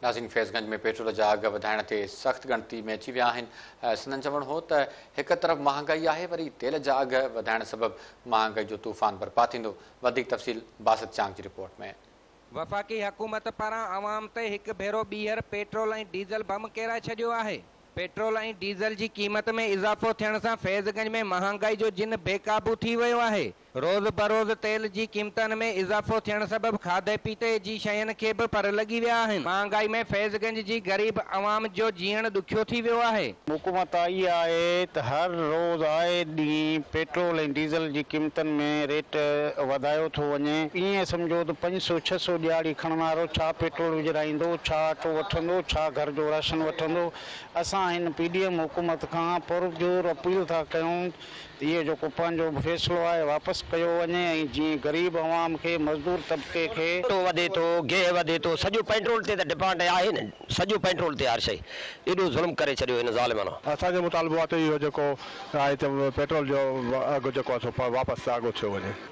ناظرين فيض گنج ۾ پيٽرول جا اگهه وڌائڻ تي سخت ڳڻتي ۾ اچي ويا آهن سندن چوڻ هو ته هڪ طرف مهانگائي آهي وري تيل جا اگهه وڌائڻ سبب مهانگائي جو طوفان برپا ٿيندو وڌيڪ تفصيل باسط چانگ جي رپورٽ ۾. وفاقي حڪومت پاران عوام تي هڪ ڀيرو ٻيهر پيٽرول ۽ ڊيزل بم ڪيرائي ڇڏيو آهي. پيٽرول ۽ ڊيزل جي قيمت ۾ اضافو ٿيڻ سان فيض گنج ۾ مهانگائي جو جن بيقابو ٿي ويو آهي روز بروز تيل جي قيمتن ۾ اضافو ٿيڻ سبب کاڌي پيتي جي شين کي به پر لڳي ويا آهن، مهانگائي ۾ فيض گنج جي غريب عوام جو جيئڻ ڏکيو ٿي ويو آهي. حڪومت آئي آهي ته هر روز آئي ڏينهن پيٽرول ۽ ڊيزل جي قيمتن ۾ ريٽ وڌايو ٿو وڃي، ائين سمجهو ته پنج سؤ ڇهه سؤ ڏيهاڙي کڻڻ وارو ڇا پيٽرول وجهرائيندو، ڇا اٽو وٺندو، ڇا گهر جو راشن وٺندو، اسان هن پي ڊي ايم حڪومت کان پرزور اپيل ٿا ڪيون اهي جو ڪوپن جو فيصلو آهي واپس ڪيو وڃي ۽ جيئن غريب عوام کي مزدور طبقي کي. اٽو وڌي ٿو گيهه وڌي ٿو سڄو پيٽرول تي ته ڊپانڊ آهي نه سڄو پيٽرول تي هر شئي ايڏو ظلم ڪري ڇڏيو هن ظالمن. اسان جو مطالبو آهي ته اهو جيڪو آهي ته پيٽرول جو اگهه جيڪو آهي سو واپس آگو ٿيو وڃي.